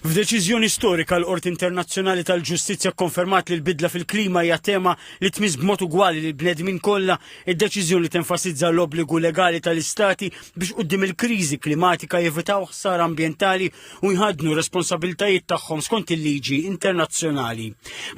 F'deċiżjoni storika, l-Qorti Internazzjonali tal-Ġustizzja kkonfermat li l-bidla fil-klima hija tema li tmiss b'mod ugwali lil bnedmin kollha. Id-deċiżjoni tenfasizza l-obbligu legali tal-istati biex quddiem il-kriżi klimatika jevitaw ħsara ambjentali u jħaddnu r-responsabbiltajiet tagħhom skont il-liġi internazzjonali.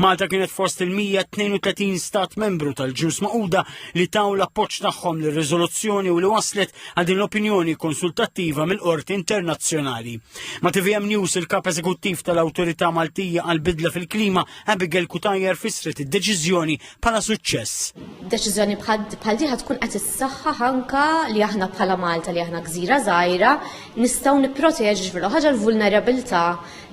Malta kienet fost il-132 stat membru tal-ġnus maquda li taw l-appoġġ tagħhom lir-riżoluzzjoni u li waslet għal din l-opinjoni konsultattiva mill-Qorti Internazzjonali. Ma' TVM News il-Kap Eżekuttiv tal-Awtorità Maltija għal bidla fil-klima Abigail Kutajer fissret id-deċiżjoni bħala suċċess. Deċiżjoni bħal diħa tkun qed issaħħaħ anka li aħna bħala Malta li aħna gżira żgħira nistgħu nipproteġu ġifier ħaġa l-vulnerabilità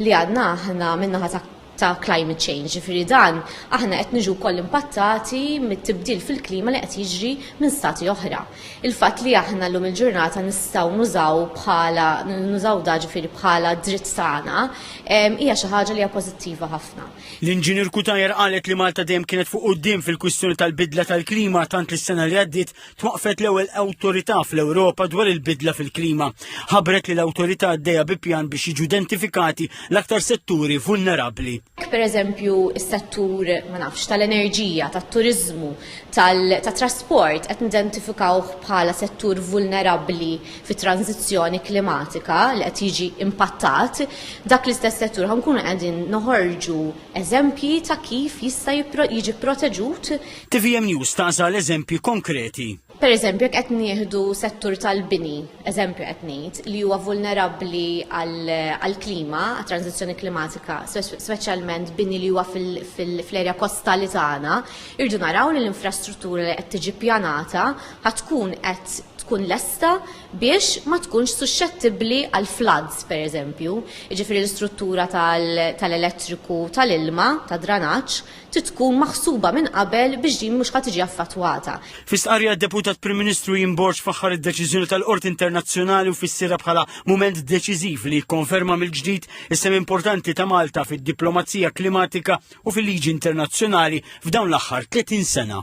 li għadna aħna minnaħa ta' ta' climate change, ġifieri dan aħna qed niġu wkoll impattati mit-tibdil fil-klima li qed jiġri minn stati oħra. Il-fatt li aħna llum il-ġurnata nistgħu nużaw bħala nużaw da ġifieri bħala dritt tagħna hija xi ħaġa li hija pożittiva ħafna. L-Inġinier Cutajar qalet li Malta dejjem kienet fuq quddiem fil-kwistjoni tal-bidla tal-klima tant li s-sena li għaddiet twaqqfet l-ewwel awtorità fl-Ewropa dwar il-bidla fil-klima. Ħabret li l-awtorità għaddejja bi pjan biex jiġu identifikati l-aktar setturi vulnerabbli. Per eżempju, is-settur ma nafx tal-enerġija, tat-turiżmu, tat-trasport qed nidentifikaw bħala settur vulnerabbli fit-tranzizzjoni klimatika li qed jiġi impattat. Dak l-istess settur ħankunu qegħdin noħorġu eżempji ta' kif jista' jiġi proteġut Tvm News taqsa l-eżempji konkreti. Per eżempju, jekk qed nieħdu settur tal-bini, eżempju qed ngħid, li huwa vulnerabbli għall-klima, għat-tranzizzjoni klimatika, speċjalment bini li huwa fl-erja kostali tagħna, irdu naraw li l-infrastruttura li qed tiġi pjanata ħad tkun qed tkun lesta biex ma tkunx suscettibbli għal floods, per eżempju, ġifiri l-istruttura tal-elettriku tal-ilma, ta' dranaċ, trid tkun maħsuba minn qabel biex din mhux ħa tiġi affatwata. Fi stqarrija d-Deputat Prim Ministru Ian Borg faħħar id-deċiżjoni tal-Qorti Internazzjonali u fissirha bħala mument deċiżiv li jikkonferma mill-ġdid is-sehem importanti ta' Malta fid-diplomazija klimatika u fil-liġi internazzjonali f'dawn l-aħħar 30 sena.